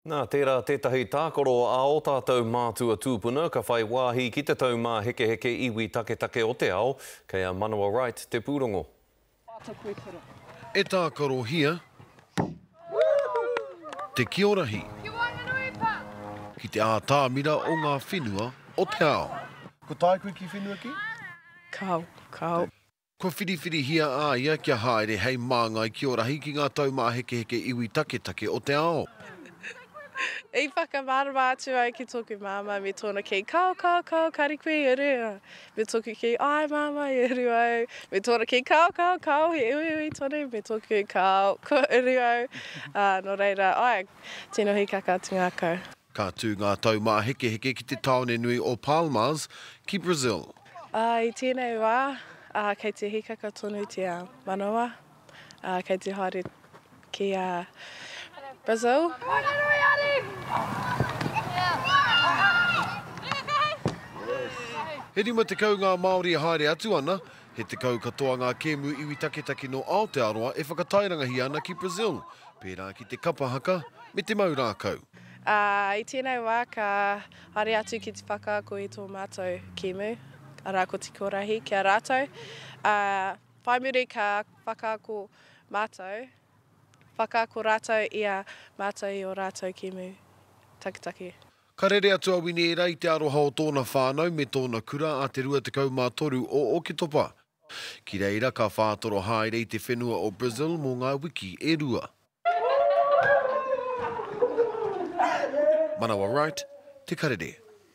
Nā, tērā tētahi tākaro a ō tātou mātua tūpuna ka whai wāhi ki te taumāhekeheke iwi taketake o te ao, kei a Manawa Wright te pūrongo. E tākarohia te kiorahi ki te ātamira o ngā whenua o te ao. Ko tāku ki whenua ki? Kāo, kāo. Kua whiriwhirihia a ia kia haere hei māngai ki Orahi ki ngā taumāhekeheke iwi taketake o te ao. I whakamārama atu au ki tōku māmā me tōna kī, Kao, kao, kao, kāre koe i uru. Me tōku kī, Āe māmā, i uru au. Me tōna kī, Kao, kao, kao, he uiui tonu. Me tōku, Kao, kua uru au. Ā, nō reira, āe, tino hīkaka atu ngākau. Ka tū ngā taumāhekeheke ki te tāone nui o Palmas, ki Brazil. I tēnei wā, kei te hīkaka tonu te manawa, kei te haere ki a Brazil. He 50 ngā Māori e haere atu ana, he tekau katoa ngā kēmu iwi taketake nō Aotearoa e whakatairangahia ana ki Brazil, pērā ki te kapa haka me te mau rākau. Ā, i tēnei wā ka haere atu ki te whakaako i tō mātou kēmu, arā ko Te Korahi, ki a rātou. Ā, whai muri ka whakaako mātou, whakaako rātou i a mātou i ō rātou kēmu taketake. Ka rere atu a Winiera i te aroha o tōna whānau me tōna kura a te 23 o Oketopa. Ki reira ka whātoro haere i te whenua o Brazil mō ngā wiki e rua. Manawa Wright, Te Karere.